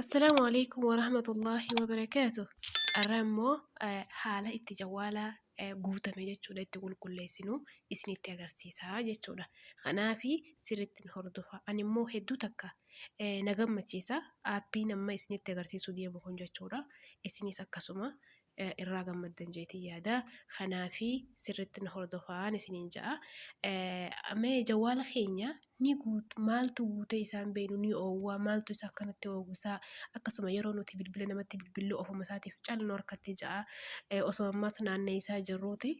Assalaamu alaikum warahmatullaahi wabarakaatu Har'a immoo haala itti jawwaala guutame jechuudha itti qulqulleessinu isinitti agarsiisa jechuudha. Kanaaf sirriitti nu hordofaa. Ani immoo hedduu takka na gammachiisa aappiin amma isinitti agarsiisuu deemu kun jechuudha. Isinis akkasuma. irraa gammaddan jeetii yaada kanaafi sirritti na hordofaan isiniin ja'a mee jawwaala keenya ni guut maaltu guutee isaan beenu ni oowwaa maaltu isa akkanatti oowwisaa akkasuma yeroo nuti bilbila namatti bilbillu ofuma isaatiif cal nu harkatti ja'a osoo ammas naannee isaa jirruuti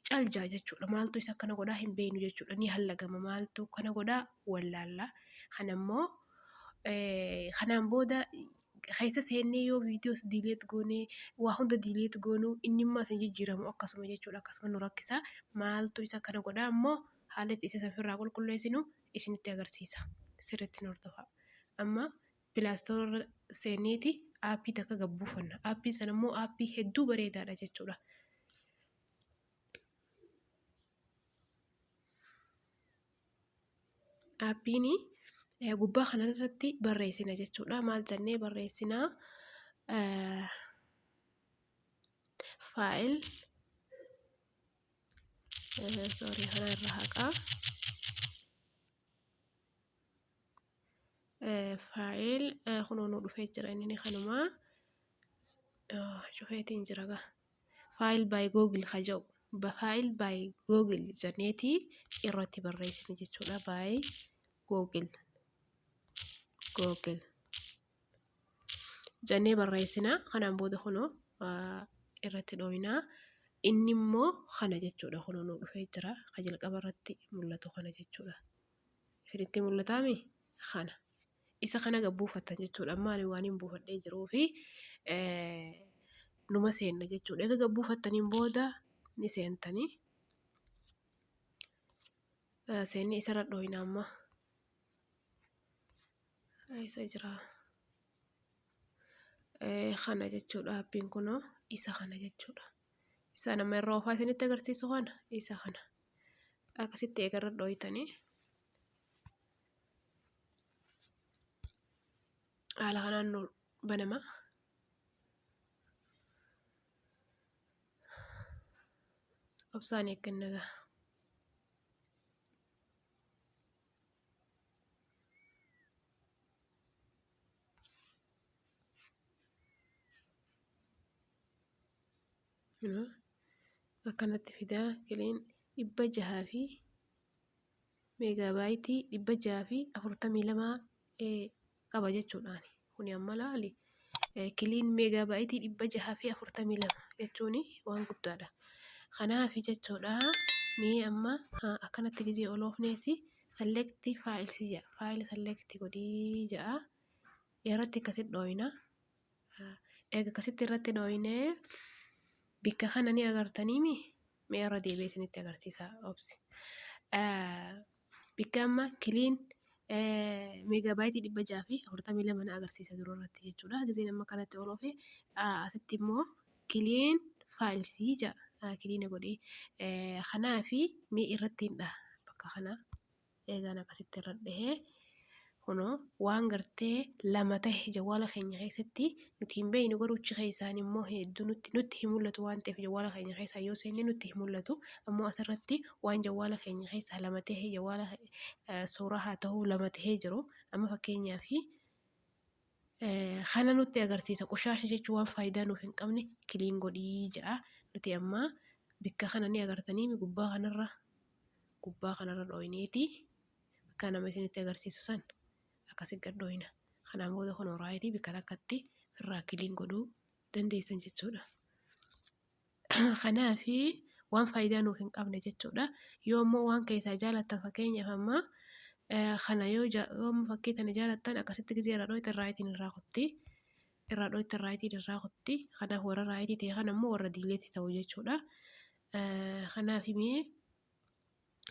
cal ja'a jechuudha maaltu isa akkana godhaa hin beenu jechuudha ni hallagama maaltu kana godhaa wallaalla kanammoo Eh, kanaan booda keessa seennee yoo viidiyoos diileet goonee waa hunda diileet goonuu inni immoo isin jijjiiramu akkasuma jechuudha akkasuma nu rakkisa maaltu isa kana godha ammoo haala itti isa sanfirraa qulqulleessinu isinitti agarsiisa sirriitti nu hordofaa amma pilaastoorra seenneeti aappii takka gabbuufanna aappiin sana immoo aappii hedduu bareedaadha jechuudha. Dhaabbiin gubbaa kana irratti barreessina jechuudha. Maal jennee barreessina? Faayil faayil kunoo nuu dhufee jira inni kanuma cufeetiin jira gaa. file by google ka jedhu file by google jenneeti irratti barreessine jechuudha by google google jennee barreessina kanaan booda kunoo ah, irratti dhooyinaa inni immoo kana jechuudha kunoo nu dhufee jira ka jalqaba irratti mul'atu kana jechuudha isinitti mul'ataami kana Isa kana gad buufattan jechuudha. Amma ani waanin buufadhee jiruu fi numa seenna jechuudha. Egaa gad buufattaniin booda ni seentanii. Seennee isarra dhooyna amma. Isa jira. Kana jechuudha appiin kunoo isa kana jechuudha. Isaan amma irra oofaa isinitti agarsiisu kana isa kana. Akkasitti eegarra dhooytanii. haala kanaan nu banama obsaan eegganna gaa akkanatti fidaa kileen dhibba jahaa fi Meegaabaayitii 642 qaba jechuudhaani. Kuni amma laali kiliin meegaabaayitii 642 jechuun waan guddaadha. Kanaaf jechuudha mee amma akkanatti gizee ol oofneesi select files jedha. Faayila select godhii jedha. Irratti akkasitti dhooyna. Eega akkasitti irratti dhooynee bikka kana ni agartaniimi mee irra deebi'ee isinitti agarsiisa obsi. Bikka amma kiliin meegaabaayitii dhibba jaha fi afurtamii lama na agarsiisa dura irratti jechuudha. Gizeen amma kanatti ol ofe asitti immoo kiliin faayilsii ja'a kiliina godhee kanaafi mee irratti hin dhaha bakka kanaa. eegaan akkasitti irra dhahee kunoo waan gartee lama tahe jawwaala keenya keessatti nuti hin beeynu garuu achi keessaan immoo hedduu nutti nutti hin mul'atu waan ta'eef jawwaala keenya keessaa yoo seenne nutti hin mul'atu ammoo asirratti waan jawwaala keenya keessaa lama tahe jawwaala suuraa haa ta'uu lama tahee jiru amma fakkeenyaa fi kana nutti agarsiisa qoshaasha jechuu waan faayidaa nuuf hin qabne kiliin godhii ja'a nuti ammaa bikka kana ni agartanii gubbaa kanarra gubbaa kanarra dhooyneeti bakka nama isinitti agarsiisu san akkasi gad dhooyna kanaan booda kun horaayiti bikka takkatti firraa kiliin godhuu dandeessan jechuudha kanaafi waan faayidaa nuuf hin qabne jechuudha yoo immoo waan keessaa jaalattan fakkeenyaaf ammaa kana yoo fakkii tana jaalattan akkasitti gizee irraa dhooyte irraayitiin irraa kutti irraa dhooyte irraayitiin irraa kutti kanaaf warra raayitii ta'e kana immoo warra diileetti ta'u jechuudha Kanaaf mee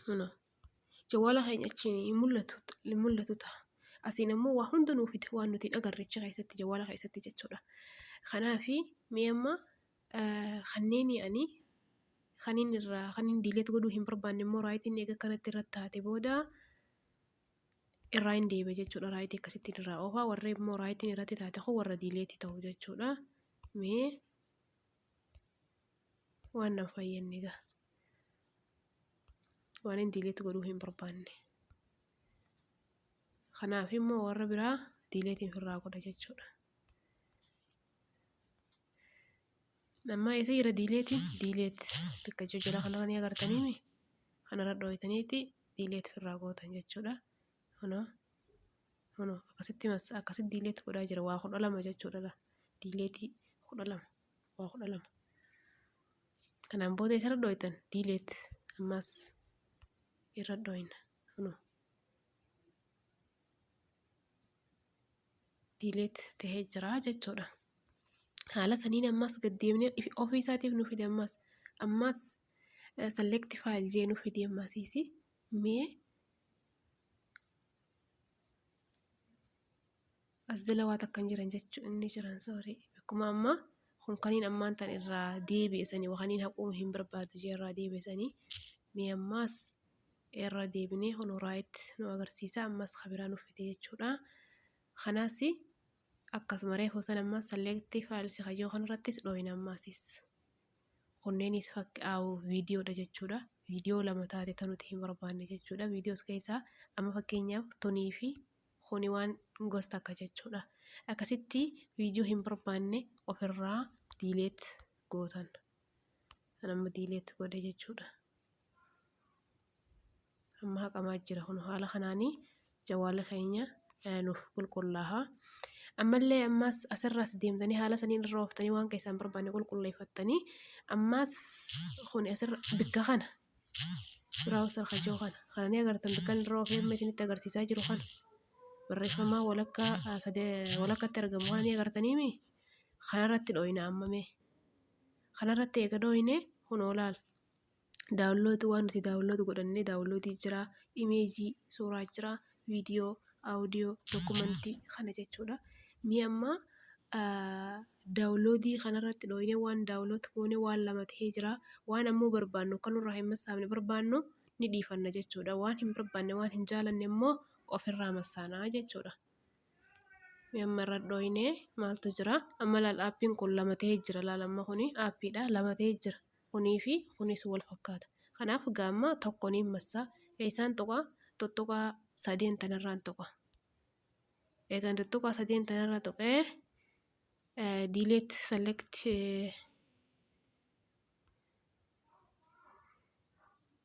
huna jawwaala keenya achiin hin mul'atu hin mul'atu ta'a. Asiin ammoo waa hunda nuu fida waan nuti hin agarre achi keessatti jawwaala keessatti jechuudha. Kanaaf mee amma kanneen ani kanin irraa kanin diileet godhuu hin barbaanne immoo raayitiin eega kanatti irratti taate booda irraa hin deebi'a jechuudha raayitii akkasittiin irraa oofaa warri immoo raayitiin irratti taate kun warra diileetti ta'u jechuudha. Mee waan nan fayyadne gaa waan hin diileetti godhuu hin barbaanne kanaaf immoo warra biraa diileetiin firraa godha jechuudha ammaa isa jira diileeti diileet bakka jijjiira kanarra ni agartaniimi kanarra dhooytaniiti diileet firraa gootan jechuudha Kunoo, kunoo akkasitti massa akkasitti diileetti godhaa jira waa kudha lama jechuudha laa diileetii kudha lama waa kudha lama kanaan booda isarra dhooytan diileet ammaas irra dhooyna kunoo diileet tahee jira jechuudha haala saniin ammaas gad deemnee if- ofii isaatiif nu fide ammaas ammaas select file jee nu fide ammaasiisi mee As jala waa takka hin jiran jechuun inni jiran soorii akkuma ammaa kun kaniin ammaan tan irraa deebi'esanii wakaniin haquu hin barbaadu jee irraa deebi'esanii mee ammaas irra deebinee kun raayitti nu agarsiisa ammas kabiraa nuuf fide jechuudha kanaas akkasuma reefu san ammaa salleetti faalsi kajoo kan irrattis dhooyin ammaasiis. kunneenis fakk au viidiyoo dha jechuudha. Viidiyoo lama taate ta nuti hin barbaanne jechuudha. Viidiyoos keessaa amma fakkeenyaaf tunii fi kuni waan gos takka jechuudha. Akkasitti viidiyoo hin barbaanne ofirraa diileet gootan. Kan amma diileet godhe jechuudha. Amma haqamaa jira kun haala kanaanii jawaala keenya nuuf qulqullaaha. Ammallee ammaas asirraas deemtanii haala saniin irra ooftanii waan keessaan barbaanne qulqulleeffattanii ammaas kun asirra bikka kana biraawusar kajoo kana kana ni agartan bikkan irra oofee amma isinitti agarsiisaa jiru kana barreeffamaa walakkaa walakkatti argamu kana ni agartanii mii kanarratti dhooyna amma mee kanarratti eega dhooyne kunoo laala. Daawunlood waan nuti daawunlood godhannee daawunloodii jira, imeejii suuraa jira, viidiyoo, audio, dokumentii kana jechuudha. Mee amma daawunloodii kanarratti dhooynee waan daawunlood goone waan lama ta'ee jira. Waan ammoo barbaannu akka nurraa hin massaafne barbaannu ni dhiifanna jechuudha. Waan hin barbaanne waan hin jaalanne immoo ofirraa massaana jechuudha. Mee amma irra dhooynee maaltu jira? Amma laal aappiin kun lama ta'ee jira laal amma kuni aappiidha lama ta'ee jira. Kunii fi kunis wal fakkaata. Kanaaf gaamma tokko niin massa. Eessaan tuqa? Tuttuqaa sadeen tanarraan tuqa. Eegan tuttuqaa sadeen tanarra tuqee eh, delete select eh,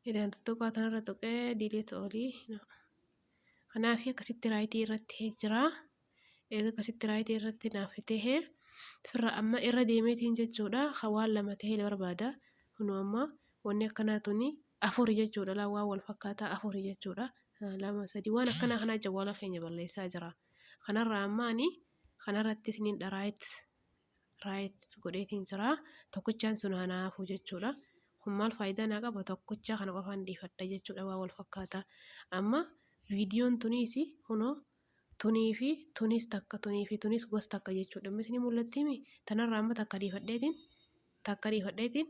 eegan tuttuqaa tanarra tuqee delete olii no. Kanaaf akkasitti raayitii irratti jira. eega akkasitti raayitii irratti naaf tahee firra amma irra deemeetiin jechuudha ka waan lama tahee barbaada kunuu amma wanni akkanaa tuni afuri jechuudha laa waan wal fakkaataa afuri jechuudha lama sadii waan akkanaa kanaa jawwaala keenya balleessaa jira kanarraa amma ani kanarratti isiniin dharaayit raayit godheetiin jira tokkichaan sun hanaa hafuu jechuudha kun maal faayidaa naa qaba tokkichaa kana qofaan dhiifadha jechuudha waan wal fakkaataa amma viidiyoon tuniisi kunoo tunii fi tunis takka tunii fi tunis was takka jechuudha amma isinii mul'attiimi tanarraa amma takka dhiifadheetiin takka dhiifadheetiin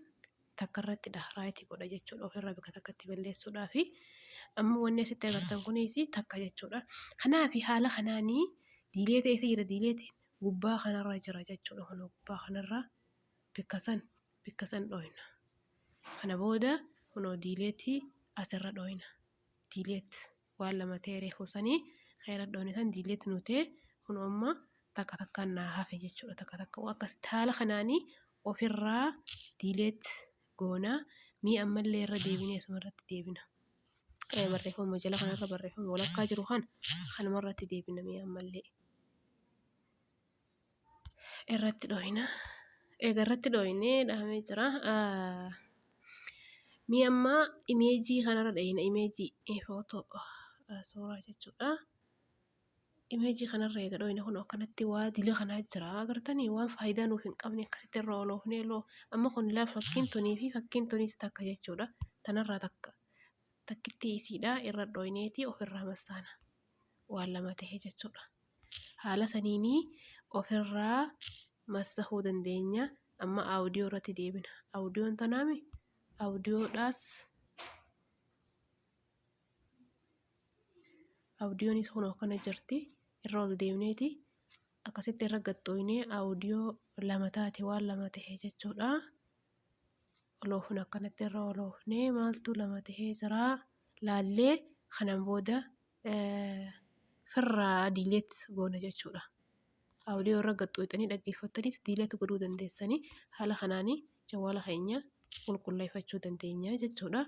takka irratti dha raayitii godha jechuudha ofirraa bakka takkatti balleessuudhaa fi amma wanni asitti agartan kunis takka jechuudha kanaaf haala kanaanii diilee ta'e isa jira diileetiin gubbaa kanarra jira jechuudha kun gubbaa kanarra bakka san bakka san dhooyna kana booda kunoo diileetii asirra dhooyna diileet. waan lama ta'e reefu sanii khayra dhoone san diileet nuu ta'e kun amma takka takkaan naa hafe jechuudha takka takka waan akkas haala kanaanii ofirraa diileet goona mii ammallee irra deebinee asuma irratti deebina. Eh, barreeffama jala kanarra barreeffama walakkaa jiru kana kanumarratti deebina mii ammallee. irratti dhooyina eega irratti dhooynee dhahamee jira mee amma imeejii kana irra dheeyna imeejii footoo suuraa jechuudha imeejii kana irra eega dhooyne kun akkanatti waa dila kanaa jira agartanii waan faayidaa nuuf hin qabne akkasitti irra oloofnee loo amma kun ilaa fakkiin tunii fi fakkiin tuniis takka jechuudha tanirraa takka takkittii isiidhaa irra dhooyneetii of irraa massaana. waan lama tahe jechuudha. Haala saniin ofirraa massahuu dandeenya. Amma audio irratti deebina. Audioon tanaami audioodhaas audionis kun akkana jirti irra ol deemneeti akkasitti irra gaxxooynee audio lama taate waan lama tahe jechuudha. Wal oofna akkanatti irra wal oofnee maaltu lama tahee jiraa laallee kanan booda firraa diileet goona jechuudha. Audio irra gaxxooyxanii dhaggeeffattaniis diileet godhuu dandeessanii haala kanaanii jawwaala keenya qulqulleeffachuu dandeenya jechuudha.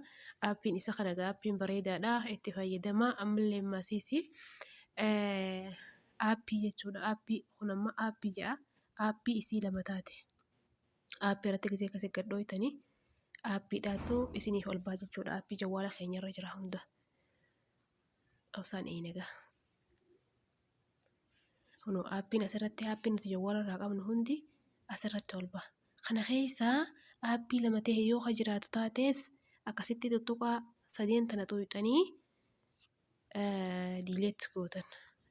Aappiin isa kana egaa aappiin bareedaadha itti fayyadamaa ammallee maasiisi aappii jechuudha aappii kun amma aappii ja'a aappii isii lama taate. Aappii irratti gisee akkasi gad dhooytanii aappiidhaattu isiniif ol ba'a jechuudha. Aappii jawwaala keenya irra jira hunda. Obsaan eeyna egaa. Kunoo aappiin asirratti aappiin nuti jawwaala irraa qabnu hundi asirratti ol ba'a. Kana keessaa aappii lama ta'e yoo ka jiraatu taates akkasitti tuttuqaa sadeen tana xuuxxanii delete gootan.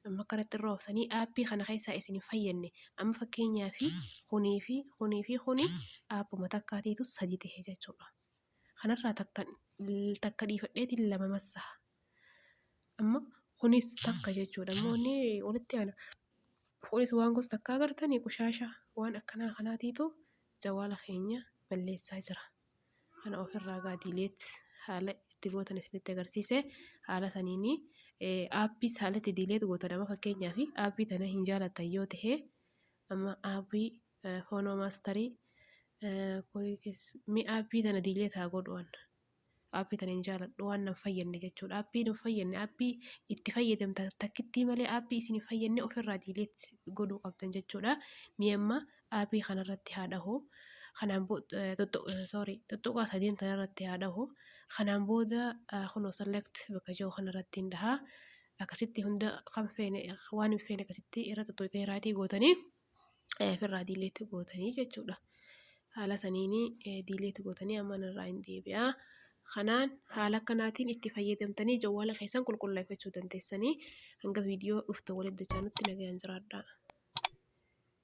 Amma akkanatti irra oofsanii aappii kana keessaa isin hin fayyadne amma fakkeenyaa fi kunii fi kunii fi kuni aappuma takkaateetu sadi ta'e jechuudha. Kanarraa takka takka dhiifadheetiin lama massaa. Amma kunis takka jechuudha. Amma wanni walitti aana kunis waan gosa takkaa agartanii qushaashaa waan akkanaa kanaatiitu jawaala keenya balleessaa jira. kana ofirraa gaa diileet haala itti gootan isinitti agarsiise haala saniini aappii haala itti diileet gootan amma fakkeenyaaf aappii tana hin jaalatan yoo ta'e amma aappii foonoo maastarii mi aappii tana diileet haa godhuwan aappii tana hin jaaladhu waan nan fayyadne jechuudha aappii hin fayyadne aappii itti fayyadamta takkittii malee aappii isin hin fayyadne ofirraa diileet godhuu qabdan jechuudha mi amma Aappii kana irratti haa dhahu. Kanaan tuttuqaa sadiin kana irratti haa dhahu. Kanaan booda kunoo select bakka jiru kana irratti hin dhaha. Akkasitti hunda kan feene waan hin feene akkasitti irra tuttuqee raayitii gootanii ofirraa delete gootanii jechuudha. Haala saniin delete gootanii amma irraa hin deebi'a. Kanaan haala kanaatiin itti fayyadamtanii jawwaala keessan qulqulleeffachuu dandeessanii hanga viidiyoo dhuftu walitti deebinutti nagayaan jiraadhaa.